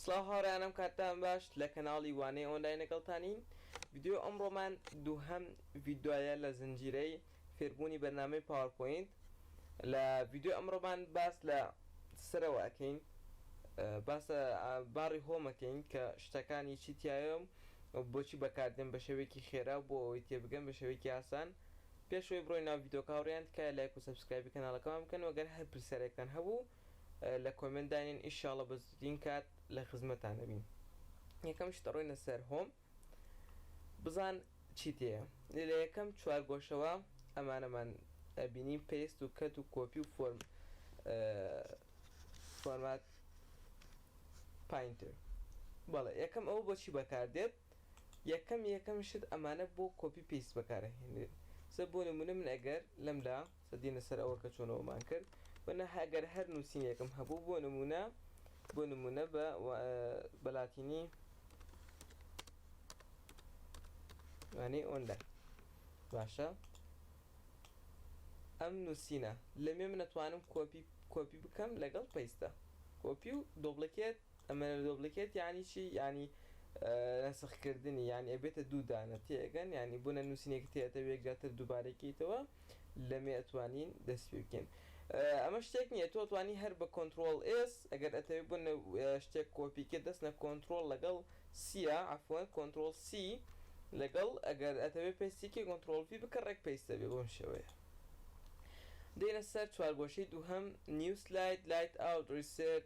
سڵاو هاوڕێیانم کاتتان باش لە کەناڵی وانەی ئۆنلاین لەگەڵتانین ڤیدیۆی ئەمڕۆمان دووهەم ڤیدۆیە لە زنجیرەی فێربوونی بەرنامەی پاوەرپۆینت لە ڤیدیۆی ئەمڕۆمان باس لە سەرەوە ئەکەین باسە باڕی هۆمەکەین کە شتەکانی چی تایەم بۆچی بەکاردێن بە شێوەیەکی خێرا بۆ ئەوەی تێبگەن بە شێوەیەکی ئاسان پێشەوەی بڕۆی ناو ڤیدۆکە هاوڕێیان تکایە لایک و سەبسکرایبی کەناڵەکەمان بکەن وەگەر هەر پرسیارێکتان هەبوو لە کۆمێنت دانێن ئیشاڵە بە زووتین کات لە خزمەتان ئەبین یەکەم شت ئەڕۆینە سەر هۆم بزان چی تێیە لە یەکەم چوارگۆشەوە ئەمانەمان ئەبینین پێست و کەت و کۆپی و فۆرم فۆرمات پاینتر بەڵێ یەکەم ئەوە بۆچی بەکاردێت یەکەم یەکەم شت ئەمانە بۆ کۆپی پێست بەکارە هێنێت سە بۆ نمونە من ئەگەر لەمدا دێنە سەر ئەوە کە چۆن ئەوەمان کرد و نە ئەگەر هەر نووسینێکم هەبوو بۆ نموونە بۆ نموونە بە بە لاتینی وانەی ئۆنلای باشە ئەم نووسینە لەمێ من نەتوانم کۆپی کۆپی بکەم لەگەڵ پەیستە کۆپی و دۆبلکێت ئەمە دۆبلکێت یعنی چی ینی نەسخکردنی یان ئەبێتە دوو دانە تێگەن ینی بوونە نووسینێک تێتە وێکجاتر دووبارەکەیتەوە لەمێ ئەتوانین دەست پی بکەین ئەمە شتێک نییە تۆ توانی هەر بە کۆنترۆڵ ئێس ئەگەر ئەتەوێ بن شتێک کۆپی کرد دەست نە کۆنترۆل لەگەڵ سیە عفوەن کۆنترۆل سی لەگەڵ ئەگەر ئەتەوێ پێستیکی کۆنترۆل پی بکە ڕێک پێستە بێ بۆم شێوەیە دێنە سەر چوارگۆشەی دووهەم نیو سلاید لایت ئاوت ڕیسێت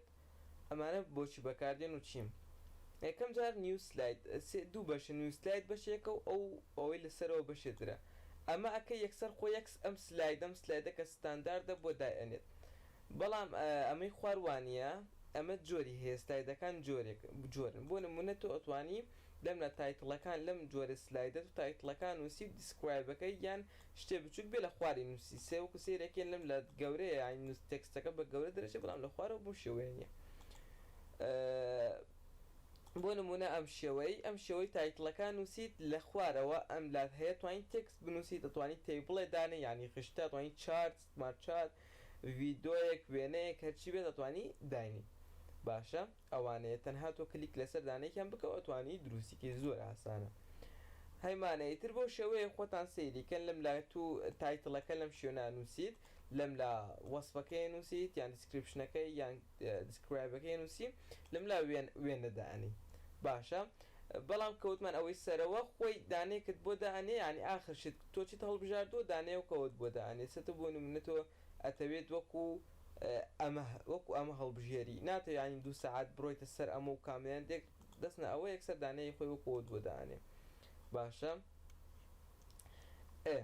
ئەمانە بۆچی بەکاردێن و چیم؟ یەکەم جار نیو سلاید سێ دوو بەشە نیو سلاید بەشێکە و ئەو ئەوەی لە سەرەوە بەشێ ترە ئەمە ئەکەی یەکسەر خۆی یەک ئەم سلایدە ئەم سلایدە کە ستانداردە بۆ دای ئەنێت بەڵام ئەمەی خوار وانیە ئەمە جۆری هەیە سلایدەکان جۆرێک جۆرن بۆ نمونە تۆ ئەتوانی دەمنا تایتڵەکان لەم جۆرە سلایدە تۆ تایتڵەکان نوسی و دیسکرایبەکەی یان شتێ بچوک بێ لە خواری نوسی سێ وەکو سەیرەکەی لەم لات گەورەیە یانی نوس تێکستەکە بە گەورە دەرەچێ بەڵام لە خوارەوە بەو شێوەیە نیە بۆ نمونە ئەم شێوەی ئەم شێوەی تایتڵەکە نوسیت لە خوارەوە ئەم لات هەیە توانی تێکست بنوسی دەتوانی تەیبڵێ دانێ یانی خشتە توانی چارت سمارت چارت ڤیدۆیەک وێنەیەک هەرچی بێ دەتوانی داینی باشە. ئەوانەیە تەنها تۆ کلیک لەسەر دانەیەکیان بکەو ئەتوانی دروستی کەی زۆر ئاسانە هەی مانە ئیتر بەو شێوەیە خۆتان سەیری کەن لەم لا تو تایتڵەکە لەم شوێنە ئەنوسیت لەم لا وەسفەکەی ئەنوسیت یان دیسکریپشنەکەی یان دیسکرایبەکەی ئەنوسی لەم لا وێن وێنە دائەنی باشە بەڵام کە وتمان ئەوەی سەرەوە خۆی دانەیەکت بۆ دائەنێ یانی ئاخر شت تۆ چیت هەڵبژاردوە دانەیەکەوەت بۆ دائەنێ چەتە بۆ نمونە تۆ ئەتەوێت وەکو ئەمە وەکو ئەمە هەڵبژێری ناتەوێ یانی دوو سەعات بڕۆیتە سەر ئەمە و کامێران دێک دەست نە ئەوە یەکسەر دانەیی خۆی وەکو ئەوت بۆ دانێ باشە ئێ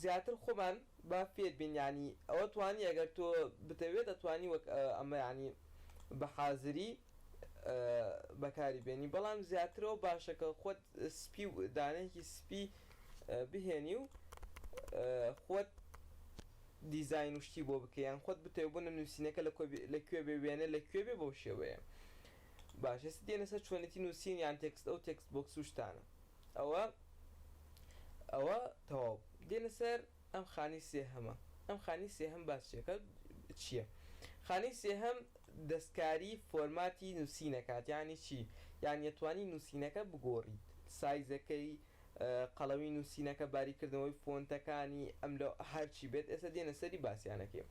زیاتر خۆمان با فێر بین یانی ئەوە توانی ئەگەر تۆ بتەوێت ئەتوانی وەک ئەمە یانی بە حازری بەکاری بێنی بەڵام زیاتر ئەو باشە کە خۆت سپی و دانەیەکی سپی بهێنی و خۆت دیزاین و شتی بۆ بکەی یان خۆت بتەوێ بۆ نووسینەکە لە کوێ بێ وێنە لە کوێ بێ بەو شێوەیە باش هێستا دێنە سەر چۆنێتی نووسین یان تێکست ئەو تێکست بۆکس و شتانە ئەوە ئەوە تەواو دێنە سەر ئەم خانەی سێهەمە. ئەم خانەی سێهەم باس چیەکا چیە خانەی سێهەم دەستکاری فۆرماتی نوسینەکات یانی چی یانی ئەتوانی نوسینەکە بگۆریت سایزەکەی قەڵەمی نوسینەکە باری کردنەوەی فۆنتەکانی ئەم لۆ هەرچی بێت ئێستا دێنە سەری باسیانەکەی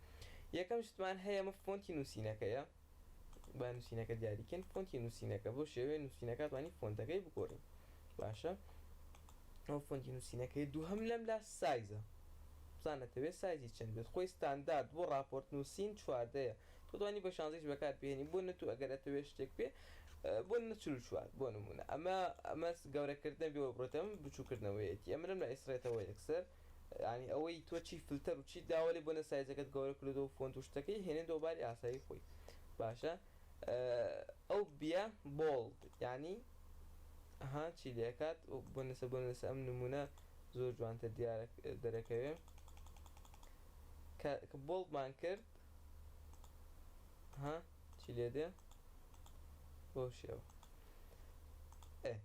یەکەم شتمان هەیە ئەمە فۆنتی نوسینەکەیە. با نووسینەکە دیاری کەین فۆنتی نووسینەکە بۆ شێوەیە نووسینەکە توانی فۆنتەکەی بگۆڕین باشە ئەو فۆنتی نووسینەکەی دوو هەم لەم لا سایزە بزانەتەوێت سایزی چەند بێت خۆی ستاندارد بۆ راپۆرت نووسین چواردەیە تۆتوانی بە شانزەیش بەکار بێنی بۆ نەتو ئەگەر ئەتەوێت شتێک پێ بۆ نەچل چوار بۆ نمونە ئەمە ئەمەس گەورەکردن بێەوە بڕێتم بچووکردنەوەیەتی ئەمرم لە ئیسرێتەوە یەکسەر یانی ئەوەی تۆ چی فلتەر و چیت داوە لێ بۆنە سایزەکەت گەورە کردۆ و فۆنت و شتەکەی هێنێتەوە باری ئاسایی خۆی باشە ئەو بیە بۆڵد یانی ها چی لێکات و بۆنەسە بۆنەسە ئەم نمونە زۆر جوانتە دیارە دەرەکەوێ کە بۆڵدمان کرد ها چی لێ دێ بۆ شێوە ئێ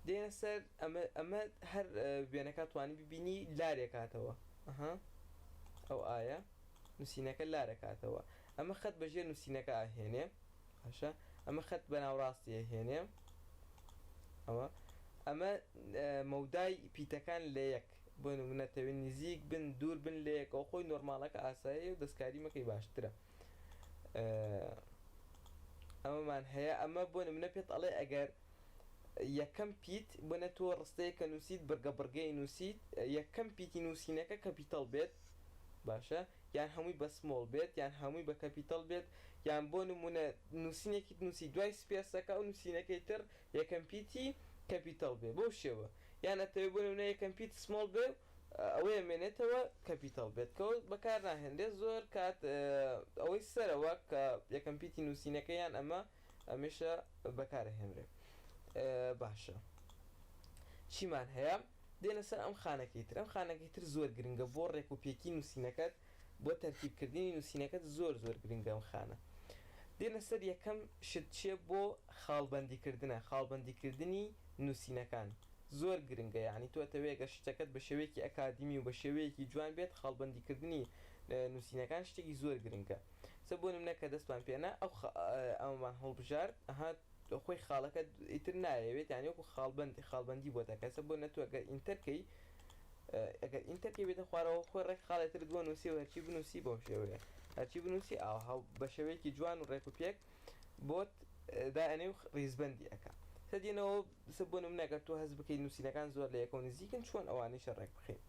دێنە سەر ئەمە ئەمە هەر وێنەکە توانی ببینی لارێ کاتەوە ئەها ئەو ئایا نووسینەکە لارە کاتەوە ئەمە خەت بەژێر نووسینەکە ئاهێنێ باشە ئەمە خەت بە ناوڕاستی ئەهێنێ ئەوە ئەمە مەودای پیتەکان لە یەک بۆ نمونەتەوێت نزیک بن دوور بن لە یەکەوە خۆی نۆرمالەکە ئاسایی و دەستکاری مەکەی باشترە ئەمەمان هەیە ئەمە بۆ نمونە پێت ئەڵێ ئەگەر یەکەم پیت بۆنە تۆ ڕستەیە کە نووسیت بڕگە بڕگەی نووسیت یەکەم پیتی نووسینەکە کەپیتەڵ بێت باشە یان هەمووی بە سمۆڵ بێت یان هەمووی بە کەپیتەڵ بێت یان بۆ نمونە نووسینێکیت نووسی دوای سپێسەکە و نووسینەکەی تر یەکەم پیتی کەپیتەڵ بێ بەو شێوە یان ئەتەوێ بۆ نمونە یەکەم پیت سمۆڵ بێ و ئەوەی ئەمێنێتەوە کەپیتەڵ بێت کە وەک بەکار ناهێنرێت زۆر کات ئەوەی سەرەوە کە یەکەم پیتی نووسینەکە یان ئەمە ئەمێشە بەکار ئەهێنرێ باشە چیمان هەیە دێنە سەر ئەم خانەکەی تر ئەم خانەکەی تر زۆر گرنگە بۆ ڕێک و پێکی نووسینەکەت بۆ تەرتیب کردنی نووسینەکەت زۆر زۆر گرنگە ئەم خانە دێنە سەر یەکەم شت چیە بۆ خاڵبەندی کردنە خاڵبەندی کردنی نووسینەکان زۆر گرنگە یانی تۆ ئەتەوێ گەر شتەکەت بە شێوەیەکی ئەکادیمی و بە شێوەیەکی جوان بێت خاڵبەندی کردنی نوسینەکان شتێکی زۆر گرنگە سە بۆ نمونە کە دەستمان پێ نا ئەو خە ئەومان هەڵبژارد ئەها تۆ خۆی خاڵەکەت ئیتر نایەوێت یانی وەکو خاڵبەند خاڵبەندی بۆ دەکە سە بۆ نە تۆ گەر ئینتەر کەی ئەگەر ئینتەر کەی بێتە خوارەوە خۆی ڕێک خاڵێ ترت بۆ نوسی و هەرچی بنوسی بەو شێوەیە هەرچی بنوسی ئاوها بە شێوەیەکی جوان و ڕێک و پێک بۆت دائەنێ و ڕیزبەندی ئەکا سە دێنەوە بسە بۆ نمونە گەر تۆ هەست بکەی نوسینەکان زۆر لە یەکەوە نزیکن چۆن ئەوانیشە ڕێک بخەی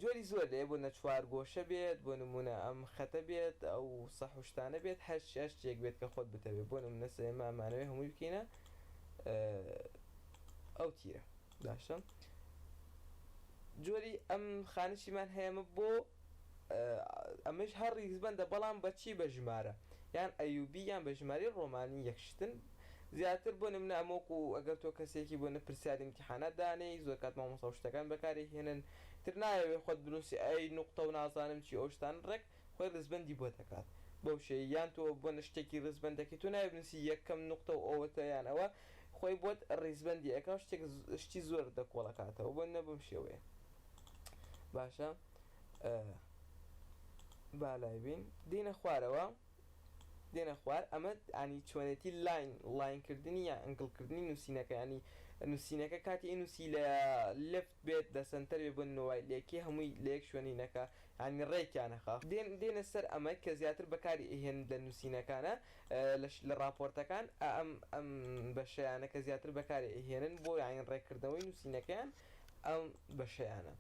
جۆری زۆر لێ بۆ نە چوار گۆشە بێت بۆ نمونە ئەم خەتە بێت ئەو سەح و شتانە بێت هەر هەر شتێک بێت کە خۆت بتەوێ بۆ نمونە سە ئێمە ئەمانەوێ هەمووی بکەینە ئەو تیرە باشە جۆری ئەم خانشیمان هەیەمە بۆ ئەمەیش هەر ڕیزبەندە بەڵام بە چی بە ژمارە یان ئەیوبی یان بە ژمارەی ڕۆمانی یەک شتن زیاتر بۆ نمونە ئەمە وەکو ئەگەر تۆ کەسێکی بۆ نە پرسیاری ئیمتیحانات دانێی زۆر کات مامۆستا و شتەکان بەکاری هێنن تر نایەوێ خۆت بنوسی ئەی نوقتە و نازانم چی و ئەو شتانە ڕێک خۆی ڕیزبەندی بۆ دەکات بەو شێ یان تۆ بۆ نە شتێکی ڕیزبەند دەکەی تۆ نایەوێ بنوسی یەکەم نوقتە و ئەوەتە یان ئەوە خۆی بۆت ڕیزبەندی ئەکا و شتێک شتی زۆرت لە کۆڵ ئەکاتەوە بۆ نمونە بەم شێوەیە. باشە با لای بین دینە خوارەوە دێنە خوار ئەمە ئەنی چۆنێتی لاین لاینکردنی یا ئەنگڵکردنی نووسینەکەیانی نووسینەکە کاتی نووسی لە لفت بێت لە سنتەر بێ بن نوای لەکی هەمووی لە یەک شوێنی نەکە ینی ڕێکیانەخە دێن دێنە سەر ئەمە کە زیاتر بەکاری ئەهێن لە نووسینەکانە لەش لە راپۆرتەکان ئەم ئەم بەشیانە کە زیاتر بەکاری ئەهێنن بۆ یاین ڕێکردنەوەی نووسینەکەیان ئەم بەشەیانە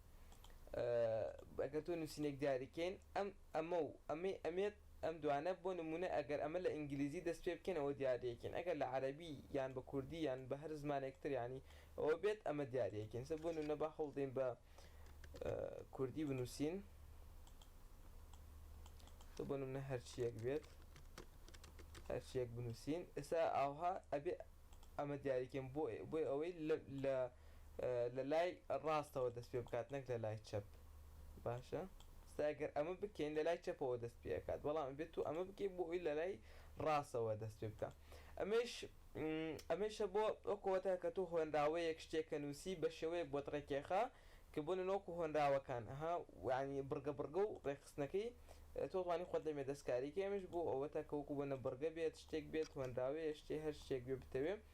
ئەگەر تۆ نووسینێک دیاریکەین ئەم ئەمە و ئەمەی ئەمێت ئەم دوانە بۆ نمونە ئەگەر ئەمە لە ئینگلیزی دەست پێ بکەین ئەوە دیاریەکەین ئەگەر لە عەرەبی یان بە کوردی یان بە هەر زمانێک تر یانی ئەوە بێت ئەمە دیاریەکەین سە بۆ نمونە با هەوڵدەین بە کوردی بنووسین سە بۆ نمونە هەرچیەک بێت هەرچیەک بنووسین ئێستا ئاوها ئەبێ ئەمە دیاریکەم بۆ بۆی ئەوەی لە لە لای ڕاستەوە دەست پێ بکات نەک لە لای چەپ باشە ستا گەر ئەمە بکەین لە لای چەپەوە دەست پێکات بەڵام بێت تو ئەمە بکەی بۆ ئەوی لە لای ڕاستەوە دەست پێ بکە ئەمەش ئەمەشە بۆ ئەوکەوەتە کە تو هۆنراوەیەک شتێکە نووسی بە شێوەیەک بۆت ڕێکێخا کە بۆ نەوەکو هۆنراوەکان ها وانی بڕگە بڕگە و ڕێکخستنەکەی تۆتوانی خۆت لەمێ دەستکاریکە ئەمەش بۆ ئەوەتە کەوەکو بۆ نە بڕگە بێت شتێک بێت هۆنراوەیە شتێ هەر شتێک بێ بتەوێ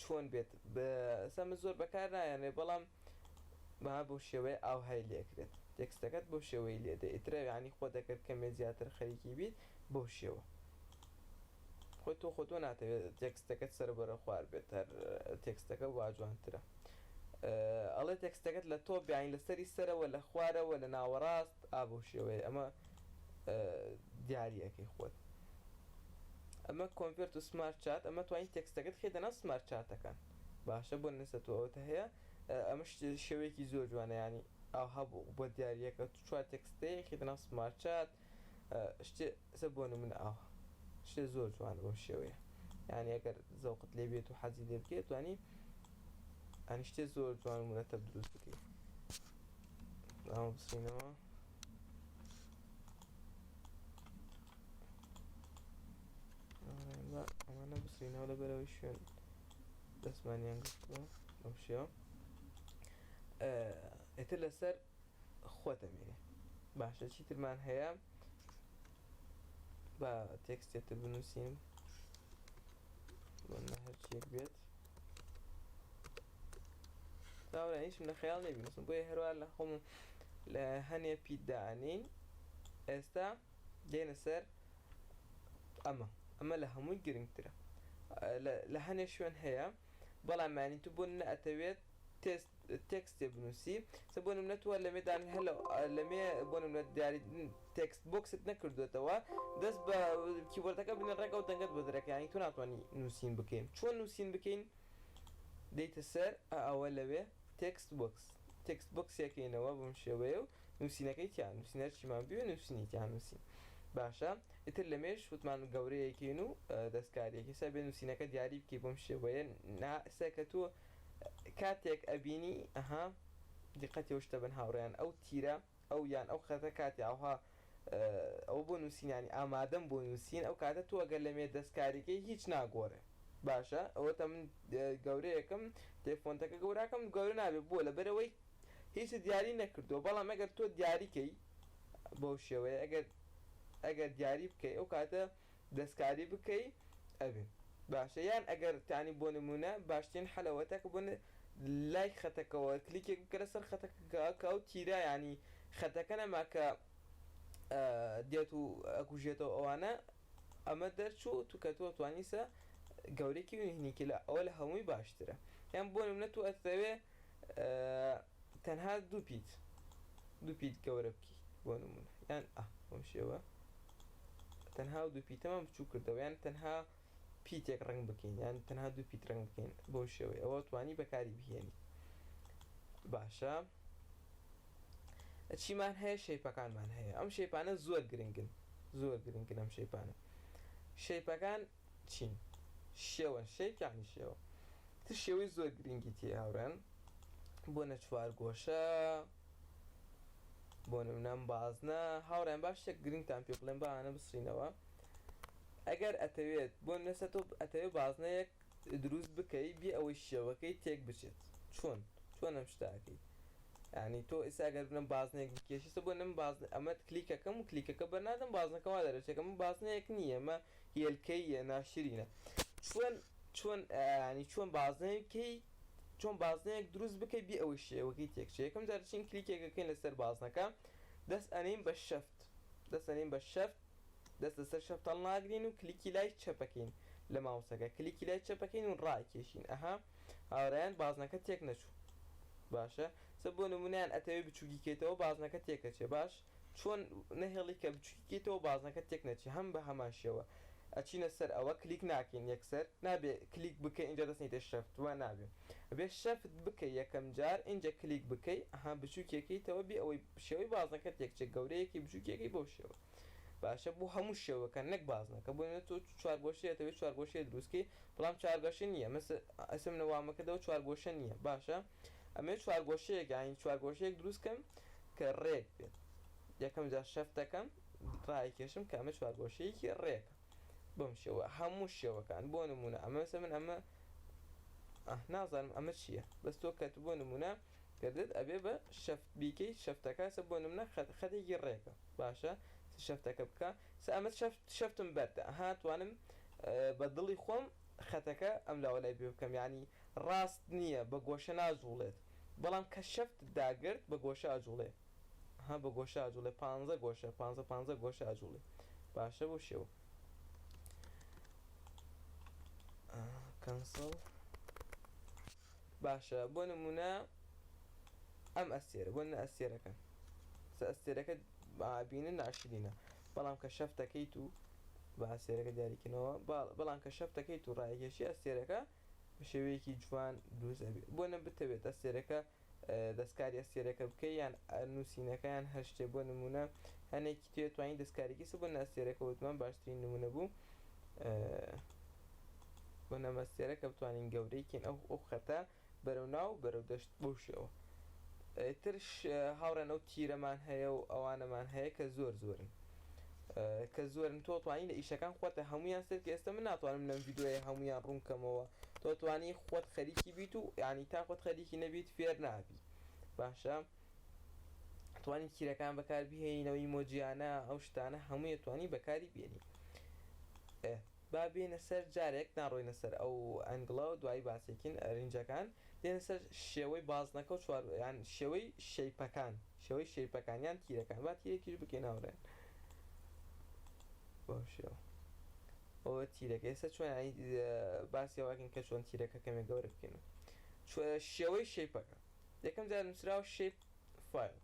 چۆن بێت سا من زۆر بەکار ناهێنێ بەڵام بەها بەو شێوەیە ئاوهای لێ کرێت تێکستەکەت بەو شێوەی لێ دێ ئیترە یانی خۆت ئەگەر کەمێ زیاتر خەریکی بیت بەو شێوە خۆ تۆ خۆ تۆ ناتەوێت تێکستەکەت سەرەبەرە خوار بێت هەر تێکستەکە وا جوانترە ئەڵێ تێکستەکەت لە تۆ بیانی لەسەری سەرەوە لە خوارەوە لە ناوەڕاست ئا بەو شێوەیە ئەمە دیاری ئەکەی خۆت ئەمە کۆنڤێرت و سمارت چات ئەمە توانی تێکستەکەت خێ دەناو سمارت چاتەکان باشە بۆ نەسە تۆ ئەوتە هەیە ئەمەش شێوەیەکی زۆر جوانە ینی ئاو هەبوو بۆ دیارریەکە تو چوار تێکستەیە خێ دەناو سمارت چات شتێ سە بۆ من ئاو شتێ زۆر جوان بۆ شێوەیە یعنی ئەگەر زەوقت لێ بێت و حەزی لێ بکێت توانی ئەنیشتێ زۆر جوان و مرەتەب دروست بکەیت ئەمە بسینەوە ئەمانە بسینەوە لە بەرەوەی شوێن دەستمانیان گرتووە بەم شێوە ئێتر لەسەر خۆتەمێنێ باشە چیترمان هەیە بە تێکستێتە بنووسین هەرچیەک بێت داوەە هیچم لە خەیاڵ نێ بنووسم بۆیە هەروە لە خۆم لە هەنێ پیدانین ئێستا دێنە سەر ئەمە ئەمە لە هەمووی گرنگترە لە هەنێ شوێن هەیە بەڵامانی تو بۆ نەئەتەوێت تست تێکستێ بنووسی سە بۆ نمونە تۆ لەمێ دان هە لە لەمێ بۆ نمونە دیاری تێکست بۆکست نەکردوێتەوە دەست بە کیبۆردەکە بنێ ڕێک ئەو دەنگەت بۆ دەرەکە یانی تۆ ناتوانی نووسین بکەین چۆن نووسین بکەین دێیتە سەر ئەوە لەوێ تێکست بۆکس تێکست بۆکسیەکەینەوە بەم شێوەیە و نووسینەکەی تیا نووسین هەرچیمان بوێ نووسینی تیا نووسین باشە ئیتر لەمێش وتمان گەورەیەکەین و دەستکاریەکەی سەر بێ نووسینەکە دیاری بکەی بەم شێوەیە نا ئێستاکە تۆ کاتێک ئەبینی ئەها دیقەتی ئەو شتە بن هاوڕێیان ئەو تیرە ئەو یان ئەو خەتە کاتی ئاوها ئەوە بۆ نوسین یانی ئامادەم بۆ نوسین ئەو کاتە تۆ گەر لە مێ دەستکاریکەی هیچ ناگۆرێ باشە ئەوەتە من گەورەیەکم تێ فۆنتەکە گەوراکەم گەورە نابێ بۆ لە بەرەوەی هیچ دیاری نەکردووە بەڵام ئەگەر تۆ دیاریکەی بەو شێوەیە ئەگەر ئەگەر دیاری بکەی ئەو کاتە دەستکاری بکەی ئەبێ باشە یان ئەگەر تانی بۆ نمونە باشترین حەل ئەوەتا کە بۆ لای خەتەکەوە کلیکێک بکە لەسەر خەتەکە کە ئەو تیرە یانی خەتەکە نەما کە دێت و ئەکوژێتەوە ئەوانە ئەمە دەرچوو تو کە تۆ توانیسە گەورەکی بینی کلا ئەوە لە هەمووی باشترە یان بۆ نمونە تو ئەتەوێ تەنها دوو پیت دوو پیت گەورە بکەیت بۆ نمونە یان ئا بەم شێوە تەنها و دوو پیتەمان بچوو کردەوە یان تەنها پیتێک ڕنگ بکەین یان تەنها دوو پیت ڕنگ بکەین بەو شێوەی ئەوە توانی بەکاری بهێنی باشە چیمان هەیە شەیپەکانمان هەیە ئەم شەیپانە زۆر گرنگن زۆر گرنگن ئەم شەیپانە شەیپەکان چین. شێوەن، شەیک یەعنی شێوە. تر شێوەی زۆر گرینگی تێیە هاوڕێیان. بۆنە چوارگۆشە، بۆ نمونە بازنە. هاوڕێیان با شتێک گرینگتان پێ بڵێم با ئەانە بسڕینەوە. ئەگەر ئەتەوێت بۆ نمونە سە تۆ ئەتەوێت بازنەیەک دروست بکەی بێ ئەوەی شێوەکەی تێک بچێت چۆن چۆن ئەم شتە ئەکەی؟ یەعنی تۆ ئیستا ئەگەر بنە بازنەیەک بکێشی سە بۆ نم باز ئەمەت کلیکەکەم و کلیکەکە بەر نادەم بازنەکە وا دەرەچێ کە من بازنەیەک نییە مە هێلکەی ناشرینە چۆن چۆن ینی چۆن بازنەیەکەی چۆن بازنەیەک دروست بکەی بێ ئەوەی شێوەکەی تێکچێ یەکەم جار چین کلیکێکەکەین لەسەر بازنەکە دەست ئەنین بە شەفت دەست ئەنین بە شەفت دەست لەسەر شەفت هەڵناگرین و کلیکی لای چەپەکەین لە ماوسەکە کلیکی لای چەپەکەین و ڕایکێشین ئەها هاورایان بازنەکە تێک نەچوو باشە سە بۆ نمونیان ئەتەوێ بچووکی کەیتەوە بازنەکە تێکەچێ باش چۆن نەهێڵی کە بچوکیکەیتەوە بازنەکە تێک نەچی هەم بە هەمان شێوە ئەچینە سەر ئەوە کلیک ناکەین یەکسەر نابێ کلیک بکەی ئینجا دەست نیتە شەفت وا نابێ ئەبێ شەفت بکەی یەکەم جار ئینجا کلیک بکەی ئەها بچوکیەکەیتەوە بێ ئەوەی شێوەی بازنەکە تێک چێ گەورەیەکەی بچوکیەکەی بەو شێوە باشە بۆ هەموو شێوەکان نەک بازنەکە بۆ نمونە تۆ چوارگۆشەی ئەتەوێ چوارگۆشەی دروست کەی بەڵام چارگەشە نیە مثل ئەسم نە وامەکردەوە چوارگۆشە نیە باشە. ئەمەوێ چوارگۆشەیەک یانی چوارگۆشەیەک دروست کەم کە ڕێک بێت یەکەم جار شەفت دەکەم ڕایکێشم کە ئەمە چوارگۆشەیەکی ڕێکە بەم شێوە هەموو شێوەکان بۆ نمونە ئەمە سە من ئەمە نازانم ئەمە چییە بەس تۆ کەت بۆ نمونە کردت ئەبێ بە شەفت بیکەیت شەفتەکەسە بۆ نمونە خەتێکی ڕێکە باشە شەفتەکە بکە سە ئەمە شەفتم بەردە هاتوانم بە دڵی خۆم خەتەکە ئەم لاوە لای بێ بکەم یانی ڕاست نیە بە گۆشە ناجوڵێت بەڵام کە شەفتت داگرت بە گۆشە ئەجوڵێ ها بە گۆشە ئەجوڵێ پانزە گۆشە پانزە پانزە گۆشە ئەجوڵێ باشە بۆ شێوە کەنسڵ باشە بۆ نمونە ئەم ئەستێرە بۆ نە ئەستێرەکە سە ئەستێرەکە بینە ناشرینە بەڵام کە شەفتەکەیت و با ئەستێرەکە دیاریکەنەوە باڵ بەڵام کە شەف دەکەیت و ڕایەکێشی ئەستێرەکە بە شێوەیەکی جوان دروست ئەبێ بۆ نە بتەوێت ئەستێرەکە دەستکاری ئەستێرەکە بکەی یان نووسینەکە یان هەر شتێ بۆ نموونە هەنێکی توێ توانی دەستکاریکی سە بۆ نە ئەستێرەکە وتمان باشترین نموونە بوو بۆ نەمەستێرە کە بتوانین گەورەی کەین ئەو ئەو خەتە بەرەو ناو بەرەو دەشت بەو شێوە ئیترش هاوڕێن ئەو تیرەمان هەیە و ئەوانەمان هەیە کە زۆر زۆرن کە زۆرن تۆ توانی لە ئیشەکان خۆتە هەمویان سەرکە ئێستا من ناتوانم لەم ڤیدۆیە هەمویان ڕوونکەمەوە تۆ توانی خۆت خەریکی بیت و یعنی تا خۆت خەریکی نەبیت فێر نابی باشە توانی کیرەکان بەکار بهێنەوەی مۆجیانە ئەو شتانە هەموویە توانی بەکاری بێنی ئێ با بێینە سەر جارێک ناڕۆینە سەر ئەو ئەنگڵە و دوایی باسێکین رینجەکان دێنە سەر شێوەی بازنەکە و چوار یان شێوەی شەیپەکان شێوەی شەیپەکان یان تیرەکان با تیرێکیش بکەین هاوڕێیان بەو شێوە ئەوە تیرەکە ئێستا چۆن باسی ئەوەکەین کە چۆن تیرەکە کەمێک گەورە بکەین شێوەی شەیپەکە یەکەم جار نووسراوە شەیپ فایل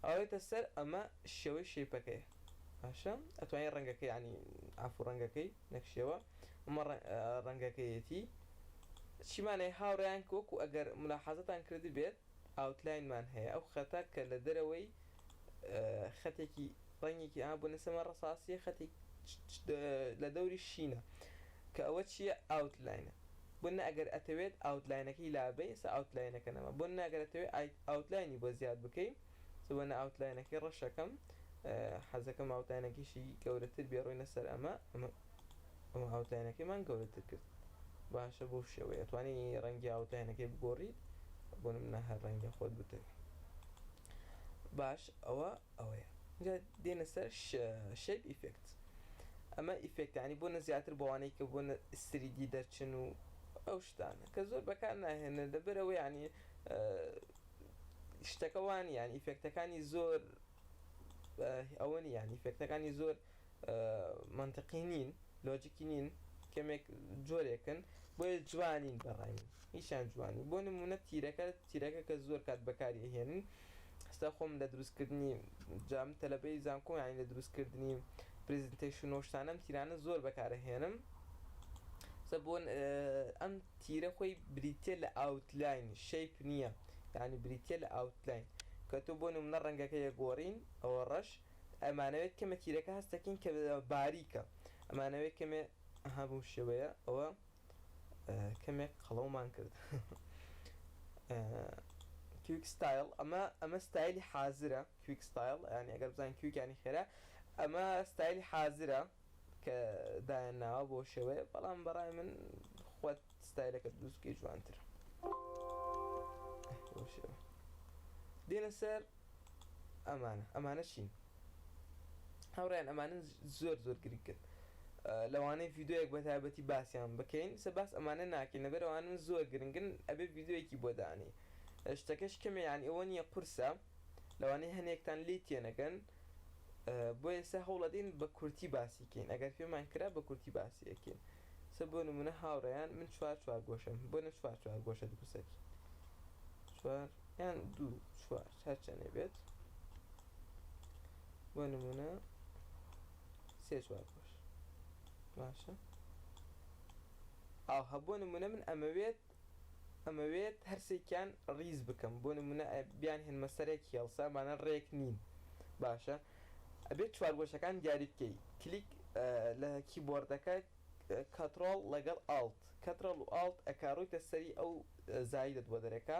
ئەوێتە سەر ئەمە شێوەی شەیپەکەیە باشە ئەتوانی ڕەنگەکەی عنی عفو ڕەنگەکەی نەک شێوە ئەمە ڕەنگەکەیەتی چیمانەیە هاوڕیان کۆک و ئەگەر ملاحازتان کردی بێت ئاوتلاینمان هەیە ئەو خەتە کە لە دەرەوەی خەتێکی ڕەنگێکی ئا بوو نەسەمە ڕساسیە خەتێک لە دەوری شینە کە ئەوە چییە ئاوتلاینە بۆنمونە ئەگەر ئەتەوێت ئاوتلاینەکەی لابەی ئێستا ئاوتلاینەکە نەما بۆنمونە ئەگەر ئەتەوێت ئایت ئاوتلاینی بۆ زیاد بکەی سبەنە ئاوتلاینەکەی ڕەشەکەم حەزەکەم ئاوتاینەکەیشی گەورەتر بێ ڕۆینە سەر ئەمە ئەمە ئەمە ئاوتلاینەکەیمان گەورەتر کرد باشە بەو شێوەیە ئەتوانی ڕەنگی ئاوتلاینەکەی بگۆڕیت بۆنمونە هەر ڕەنگە خۆت بتەوێ باش ئەوە ئەوەیە جا دێنە سەر شەیپ ئیفێکت ئەمە ئیفێکتانی بۆنە زیاتر بۆوانەی کە بۆنە سریدی دەرچن و ئەو شتانە کە زۆر بەکار ناهێنن لەبەرەوە یعنی شتەکەوانی یان ئیفێکتەکانی زۆر ئەوە نی یان ئیفێکتەکانی زۆر منطقی نین لۆجیکی نین کەمێک جۆرێکن بۆیە جوانین بەڕای من هیچیان جوانی بۆ نمونە تیرەکە تیرەکە کە زۆر کات بەکاری هێنن ئێستا خۆم لە دروست کردنی جا من تەلەبەی زانکۆم یانی لە دروست کردنی پریزنتەیشن و شتانە ئەم تیرانە زۆر بەکار ئەهێنم سە بۆ ئەم تیرە خۆی بریتە لە ئاوتلاین شەیپ نییە یعنی بریتە لە ئاوتلاین کە تۆ بۆ نمونە ڕەنگەکە یەگۆڕین ئەوە ڕەش ئەمانەوێت کەمە تیرەکە هەستەکەین کە باریکە ئەمانەوێت کەمێ هەبوو شێوەیە ئەوە کەمێک قەڵەومان کرد کویک ستایل ئەمە ئەمە ستایلی حازرە کویک ستایل یعنی ئەگەر بزانین کویکانی خێرا ئەمە ستایلی حازرە کە دایان ناوە بۆ شێوەیە بەڵام بەڕای من خۆت ستایلەکە دووسکی جوانترە دێنە سەر ئەمانە ئەمانە چین هاوڕێیان ئەمانە زۆر زۆر گرنگن لەوانەیە ڤیددیوەک بە تایبەتی باسییان بکەین سە باس ئەمانە ناکەین لە بەرەوانن زۆر گرنگن ئەبێ ڤیددیوەکی بۆ دانێ شتەکەش کەمێ یان ئەوە نیە قورسە لەوانەیە هەنێکتان لی تێنەگەن بۆ ئێستا هەوڵەدەین بە کورتی باسیکەین ئەگەر پێمان کرا بە کورتی باسیەکەین سە بۆ نمونە هاوڕێیان من چوار چوار گۆشم بۆ نە چوار چوار گۆشە دروستەکەین چوار یان دوو چوار هەرچەنێ بێت بۆ نمونە سێ چوار بۆش باشە ئاو هەبوو نمونە من ئەمەوێت ئەمەوێت هەرسێکیان ڕیز بکەم بۆ نمونە بیان هێنمە سەرێک هێڵسا بانە ڕێک نین باشە ئەبێت چوار گۆشەکان دیاری بکەی کلیک لە کیبۆردەکە کەترۆڵ لەگەڵ ئاڵت کەترەڵ و ئاڵت ئەکاڕوویتە سەری ئەو زایدت بۆ دەرەکە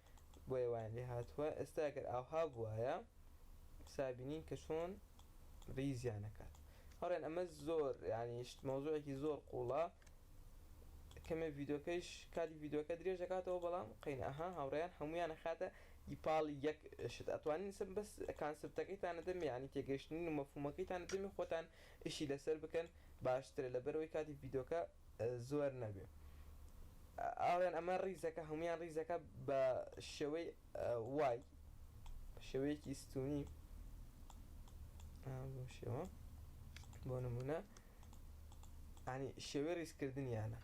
بۆیە وایان لێ هاتووە ئێستا گەر ئاوها بوایە سا بینین کە چۆن ریزیان ئەکات هەڵێن ئەمە زۆر یانی شت مەوزوعێکی زۆر قوڵە کەمێ ڤیدۆکەیش کاتی ڤیدۆکە درێژ دەکاتەوە بەڵام قین ئەها هاوڕێیان هەمویان خاتە ی پاڵی یەک شت ئەتوانین سم بەس کانسپتەکەیتان نەدەم یانی تێگەیشتنین و مەفهومەکەیتان نەدەمی خۆتان ئیشی لەسەر بکەن باشترە لەبەرەوەی کاتی ڤیدۆکە زۆر نەبێ ئاڵێن ئەمە ڕیزەکە هەموویان ڕیزەکە بە شێوەی وای شێوەیەکی ستونی بۆ شێوە بۆ نمونە ینی شێوەی ڕیزکردنیانە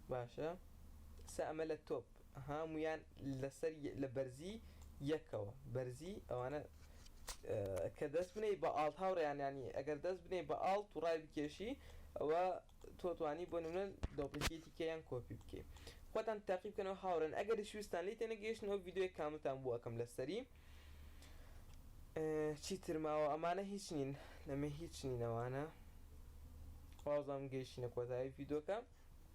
باشە سە ئەمە لە تۆپ هامویان لەسەر لە بەرزی یەکەوە بەرزی ئەوانە کە دەست بنێی بە ئاڵت هاوڕێیان ینی ئەگەر دەست بنێی بە ئاڵت و ڕای بکێشی ئەوە تۆتوانی بۆ نمونە دۆپلکیتی کەیان کۆپی بکەی خۆتان تاقی بکەنەوە هاوڕێن ئەگەر شوستان لی تێنەگەیشتن ئەو یددیوی کامتان بوو ئەەکەم لەسەری چی ترماوە ئەمانە هیچ نین لەمە هیچ نینەوانە خوازم گەیشتینە کۆتایی یددیوکە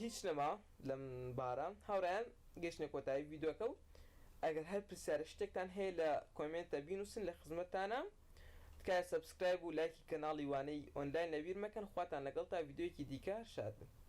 هیچ نەما لەم بارە هاورایان گەشتنە کۆتایی ڤیدۆکە و ئەگەر هەر پرسیارە شتێکتان هەیە لە کۆمێنتە بینوسن لە خزمەتتانام تکایە سەبسکرایب و لایکی کەناڵی وانەی ئۆنلاین لەبیر مەکەن خواتان لەگەڵ تا ڤیدۆیەکی دیکە شاد بن.